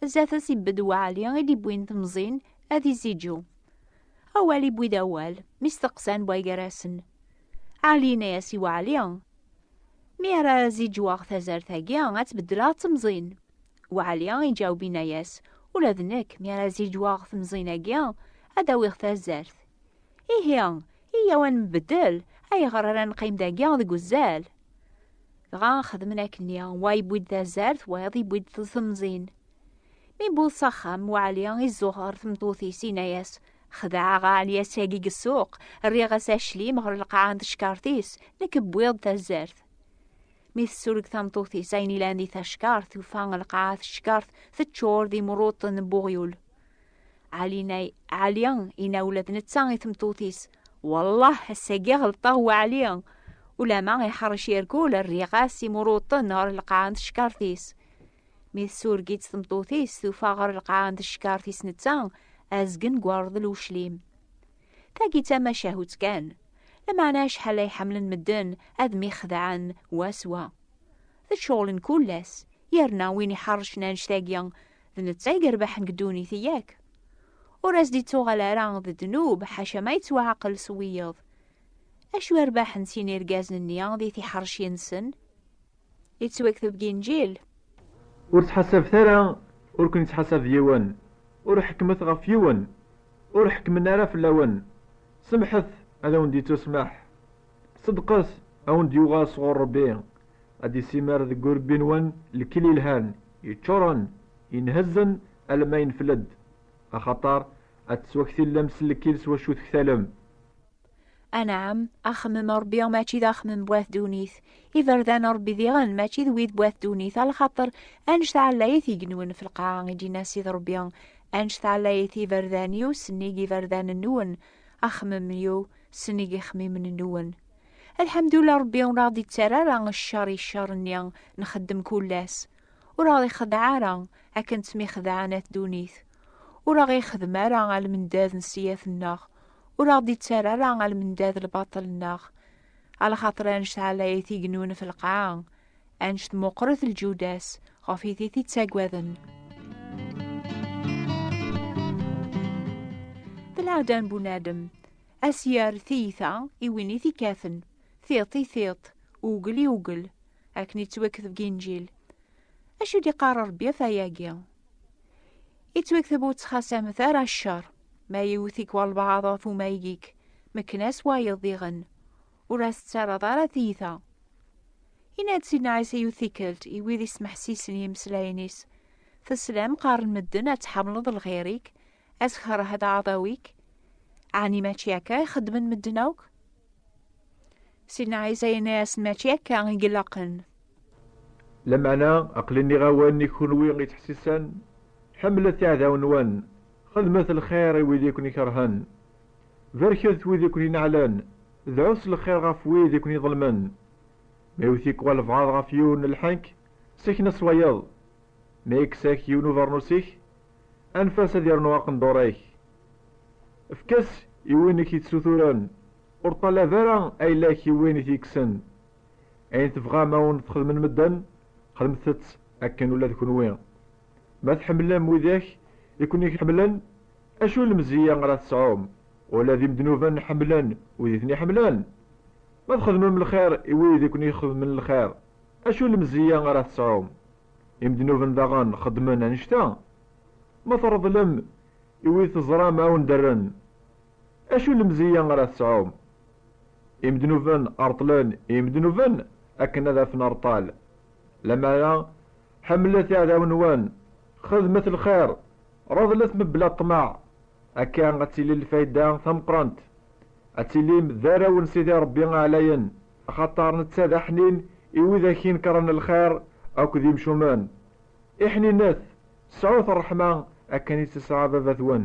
Zdat-s ibedd waɛli i d-iwwin temẓin ad iziǧu. Awal iwwi-d awal, mi steqsan wa gar-asen. Ɛli yenna-as i waɛli, Mi ara ziǧuɣ tazart-agi, ad tbeddleɣ temẓin. Waɛli iǧaweb yenna-as, Ula d nekk, mi ara ziǧuɣ temẓin-agi, ad d-awiɣ tazart. Ihi, iyyaw ad nbeddel, ayɣer ara neqqim dagi deg uzal? Dɣa xedmen akken-nni, wa yewwi-d tazart, wayeḍ yewwi-d temẓin. Mi yewweḍ s axxam, Waɛli izuxer tmeṭṭut-is, yenna-as, Xedɛeɣ Ɛeliyas-agi deg ssuq, rriɣ-as aclim ɣer lqaɛa n teckaṛt-is, nekk wwiɣ-d tazart. Mi tessureg tameṭṭut-is ayen ilan di tackaṛt, tufa lqaɛa teckaṛt teččur d imruṭṭen n uɣyul. Ɛlinay, Ɛli, ina ula d netta i tmeṭṭut-is, Wallah, ass-agi ɣelṭeɣ wa Ɛli, ulama iḥerrec irgul, rriɣ-as imuruṭen ɣer lqaɛ n teckaṛt-is. Mi tsureg-itt tmeṭṭut-is, tufa ɣer lqaɛ n teckaṛt-is netta, azgen n ureḍl uclim. Tagi d tamacahut kan, lameɛna acḥal ay ḥemmlen medden ad myexdaɛen wa s wa. D ccɣel n kul ass, yerna win iḥerrcen anect-agi, d netta i yerbaḥen deg ddunit, yak? Ur as-d-ittuɣal ara d ddnub, ḥaca ma yettwaɛqel s wiyeḍ. Acu i rbaḥen sin irgazen-nni di tiḥerci-nsen? Yettwakteb deg Inǧil. Ur ttḥasabet ara, ur ken-ittḥasab yiwen, ur ḥekkmet ɣef yiwen, ur ḥekkmen ara fell-awen, semḥet, ad awen-d-ittusmeḥ, Ṣeddqet, a wen-d-yuɣal sɣur Ṛebbi, ad d-issimer deg urebbi-nwen lkil yelhan, yeččuṛen, inhezzen alamma yenfel-d, axaṭer ad tettwaktillem s lkil s wacu tektalem. Anɛam, axemmem n Ṛebbi mačči d axemmem n wat ddunit. Iberdan n Ṛebbi diɣen mačči d wid n wat ddunit, axaṭer annect-a ɛlayit i yenwen f lqaɛa, i d-yenna Ssid Ṛebbi, annect-a ɛlayit i iberdan-iw, sennig iberdanen-nwen. Axemmem-iw sennig ixemmimen-nwen. Alḥamdullah Rebbi ur aɣ-d-ittara ara ccer i ccer-nni nxeddem kull ass. Ur aɣ-ixdeɛ ara akken ttmixedɛen at ddunit. Ur aɣ-ixdem ara almendad n ssiyat-nneɣ. Ur aɣ-d-ittara ara almendad lbaṭel-nneɣ. Alxater ad nesɛa lɛid i yennun ɣef lqaɛa, Anect meqqret lǧuda-s, ɣef it i t-ittaggaden. D lɛada n bunadem, ad s-yerr tiyita i win i t-ikkaten, tiṭ i tiṭ, ugel i ugel, akken ittwakteb deg Inǧil. Acu d-iqqar Rebbi ɣef wayagi? Ittwakteb ur ttxasamet ara ccer, ma yewwet-ik walbaɛḍ ɣef umayeg-ik, mekken-as wayeḍ diɣen. Ur as-ttaraḍ ara tiyita. Yenna-d Sidna Ɛisa yiwet tikkelt i wid ismeḥsisen yimeslayen-is, Teslam qqaren medden ad tḥemmleḍ lxir-ik, ad tkerheḍ aɛdaw-ik. Ɛni mačči akka i xeddmen medden akk? Sidna Ɛisa yenna-asen mačči akka i ilaqen. Lameɛna, aql-i nniɣ-awen i kunwi ittḥessisen, ḥemmlet iɛdawen-nwen, xedmet lxir i wid i ken-ikerhen, barket wid i ken-ineɛlen, dɛut s lxir ɣef wid i ken-iḍelmen. Ma iwet-ik walebɛaḍ ɣef yiwen n lḥenk, sken-as wayeḍ. Ma yekkes-ak yiwen ubernus-ik, anef-as ad yernu aqendur-ik. Efk-as i win i k-itsuturen, ur ṭṭalab ara ayla-k i win i t-yekksen. Ayen tebɣam a wen-t-xedmen medden, xedmet-t akken ula d kenwi. Ma tḥemmlem widak i ken-iḥemmlen, acu n lemzeyya ara tesɛum? Ula d imednuben ḥemmlen wid i ten-iḥemmlen. Ma txedmem lxir i wid i ken-ixedmen lxir, acu n lemzeyya ara tesɛum? Imednuben daɣen xeddmen annect-a. Ma treḍlem i wid teẓram a wen-d-rren, acu n lemzeyya ara tesɛum? Imednuben reṭṭlen imednuben akken ad afen reṭṭal. Lamana, ḥemmlet iɛdawen-nwen, xedmet lxir, reḍlet mebla ṭṭmeɛ, akka ad tili lfayda tameqqrant, ad tilim d arraw n Sidi Ṛebbi Aɛlayen, axaṭer netta d aḥnin i widak inekkṛen lxir akked imcumen. Iḥninet, sɛut ṛṛeḥma akken i tt-tesɛa baba-twen.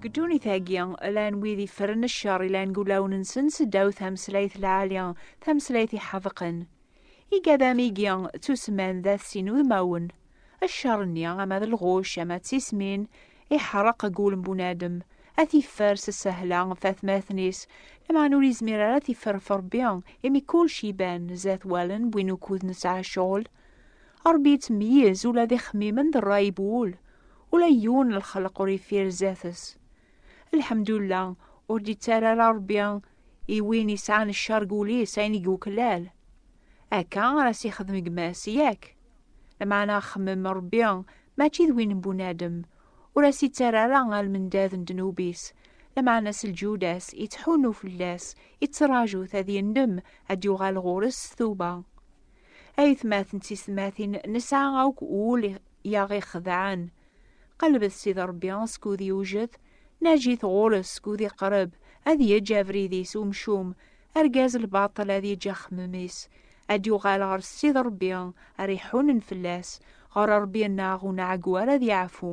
Deg ddunit-agi, llan wid iffren ccer, llan deg wulawen-nsen seddaw tameslayt lɛali, tameslayt iḥedqen. Igad amigi ttusemman d at s inudmawen. Ccer-nni, ama d lɣucc, ama d tismin, iḥreq deg wul n bunadem, ad t-iffer s ssehla ɣef atmaten-is, lameɛna ur yezmir ara ad t-iffer ɣef Rebbi, imi kulci iban zdat wallen n win ukud nesɛa ccɣel. Rebbi yettmeyyiz ula d ixemmimen d rray n wul. ula yiwen n lxelq ur yeffir zdat-s lḥemdullah ur d-yettara ara rebbi i win yesɛan ccer deg wul-is ayen i yuklal akka ara s-yexdem gma-s yak lmeɛna xemmem rebbi mačči d win n bunadem ur as-yettara ara almendad n ddnub-is lmeɛna s lǧuda-s yettḥunnu fell-as yettṛaju-t ad yendem ad d-yuɣal ɣur-s s tuba Aytmaten d tiysetmatin nesɛa akk ul yaɣ ixedɛen. Qelbet Sidi Rebbi skud yewjed, naǧit ɣur-s skud iqreb, ad yeǧǧ abrid-is umcum, argaz lbaṭel ad yeǧǧ axemmem-is, ad yuɣal ɣer Sidi Rebbi ara iḥunen fell-as, ɣer Rebbi-nneɣ uneɛgwar ad yeɛfu.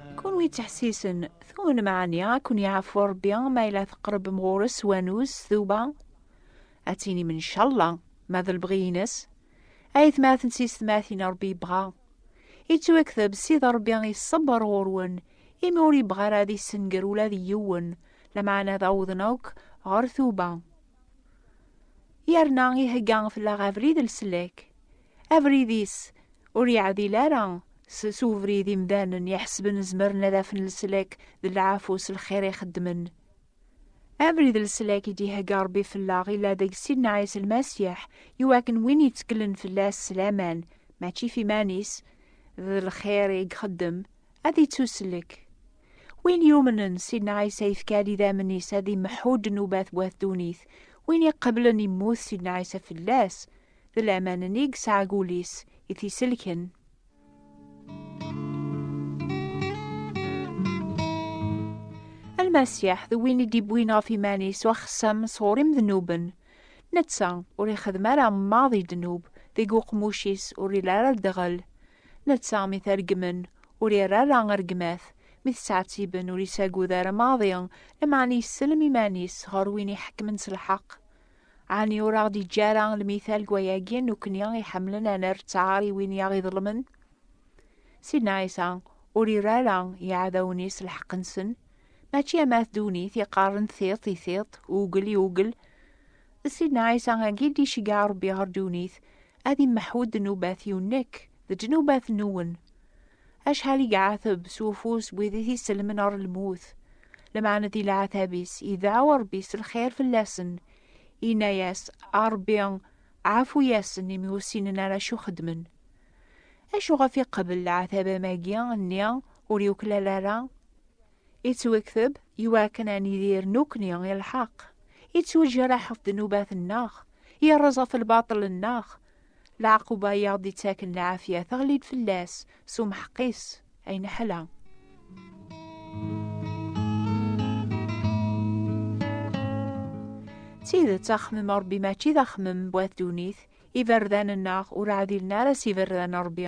Kunwi ttḥessisen, tumen meɛni ad ken-yeɛfu Rebbi ma yella teqrebem ɣur-s s wanuz, s tuba? Ad tinim ncalla, ma d lebɣi-ines. Ayetmaten s yessetmatin Rebbi yebɣa. Yettwakteb Sidi Rebbi iṣebber ɣur-wen, imi ur yebɣi ara ad issenger ula d yiwen, lameɛna ad awḍen akk ɣer tuba. Yerna ihegga fell-aɣ abrid n leslak. Abrid-is ur yeɛdil ara s s ubrid imdanen iḥesben zemren ad afen leslak d lɛafu s lxir i xeddmen. Abrid leslak i d-ihegga Rebbi fellaɣ illa deg Sidna Ɛisa Lmasiḥ i wakken win yettkelen fell-as s laman, mačči f iman-is, d lxir i ixeddem, ad ittuslek. Win yumnen, Sidna Ɛisa yefka-d idammen-is ad imeḥḥu ddnubat wat ddunit, win iqeblen immut Sidna Ɛisa fell-as, D laman-nni i yesɛa deg wul-is i t-iselken. Almasiḥ d win i d-iwwin ɣef iman-is axessam sɣur imednuben. Netta ur ixeddem ara maḍi ddnub deg uqemmuc-is ur ili ara ddɣel. Netta mi t-reggmen ur irra ara rregmat, mi t-ttɛettiben ur isagud ara maḍi, lameɛna yessellem iman-is ɣer win iḥekkmen s lḥeqq. Ɛni ur aɣ-d-iǧǧa ara lmital deg wayagi nekkni iḥemmlen ad nerr ttaṛ i win i aɣ-iḍelmen? Sidna Ɛisa ur irra ara i yiɛdawen-is lḥeqq-nsen, mačči am at ddunit iqqaren tiṭ i tiṭ, ugel i ugel. D Sidna Ɛisa-agi i d-iceggeɛ Ṛebbi ɣer ddunit, ad immeḥu ddnubat-iw nekk d ddnubat-nwen. Acḥal i iɛateb s ufus n wid i t-isellmen ɣer lmut, lmeɛna di leɛtab-is, idɛa Ṛebbi s lxir fell-asen, inna-yas, A Ṛebbi, ɛfu-yasen, imi ur ssinen ara acu xeddmen. Acu ɣef iqebbel leɛtab amagi nni ur yuklal ara? Ittwekteb iwakken ad nidir nekkni i lḥeqq, ittwejraḥ ɣef ddnubat-nneɣ, yerreẓ ɣef lbaṭel-nneɣ, Leɛquba i aɣ-d-ittaken lɛafya teɣli-d fell-as s umḥeqqis, ay neḥla! D tidet, axemmem n Rebbi mačči d axemmem n wat ddunit, iberdan-nneɣ ur ɛdilen ara s iberdan n Rebbi.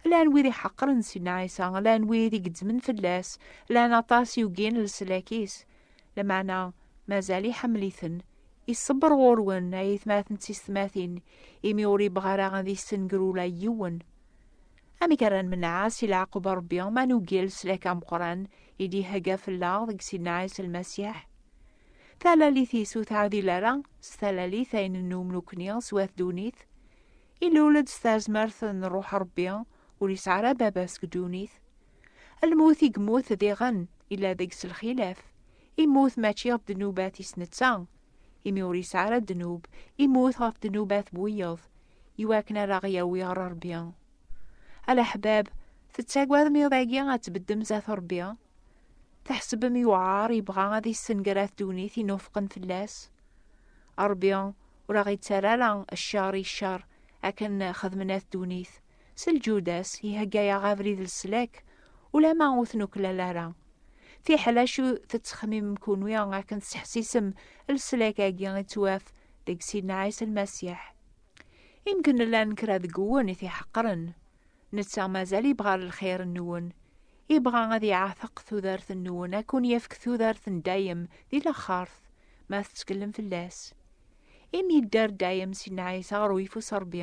Llan wid iḥeqqren Sidna Ɛisa, llan wid i gezzmen fell-as, llan aṭas i ugin leslak-is, Lameɛna mazal iḥemmel-iten. Iṣebber ɣur-wen, ay atmaten d tistmatin, imi ur yebɣi ara ad yessenger ula yiwen. Amek ara nmenɛa si leɛqub n Rebbi ma nugel s lak ameqqran i d-ihegga fell-aɣ deg Sidna Ɛisa Lmasiḥ? Talalit-is ur teɛdil ara s talalit ay nennum nekkni s wat ddunit. Ilul-d s tazmert n Ṛuḥ Ṛebbi, ur yesɛi ara baba seg ddunit. Lmut i yemmut diɣen, yella deg-s lxilaf. Immut mačči ɣef ddnubat-is netta, imi ur yesɛi ara ddnub, immut ɣef ddnubat n wiyeḍ, iwakken ad aɣ-yawi ɣer Ṛebbi. A leḥbab, tettagadem iḍ-agi ad tbeddem zdat Ṛebbi? Tḥesbem yewɛeṛ yebɣa ad yessenger at ddunit i nufqen fell-as? Ṛebbi ur aɣ-ittarra ara cceṛ i cceṛ akken xedmen at ddunit, S lǧudas, ihegga-yaɣ abrid leslak, ulama ur t-nuklal ara. Fiḥel acu tettxemimem kunwi akken tesseḥsisem leslak-agi i ttwaf deg Sidna Ɛisa Lmasiḥ. Imken llan kra deg-wen i t-iḥeqren. Netta mazal ibɣa lxir-nwen. Ibɣa ad iɛteq tudert-nwen, ad kun-yefk tudert n dayem di laxert, ma tettkellem fell-as. Imi yedder dayem Sidna Ɛisa ɣer uyeffus n Rebbi,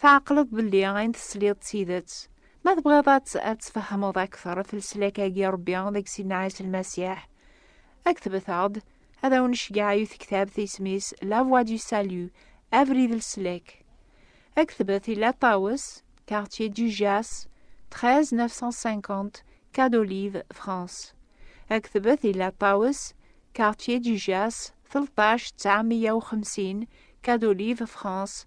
Tɛeqleḍ belli ayen tesliḍ d tidet. Ma tebɣiḍ ad tfehmeḍ akteṛ ɣef leslak-agi n Ṛebbi deg Sidna Ɛisa Lmasiḥ, aktbet-aɣ-d, ad awen-necgeɛ i tektabt isem-is La Voix du Salut, Abrid Leslak. Aktbet i La Tawes, Quartier du Jas, 13 950 Quai d'Olive, France. Aktbet i La Tawes, Quartier du Jas, 13 950 Quai d'Olive, France,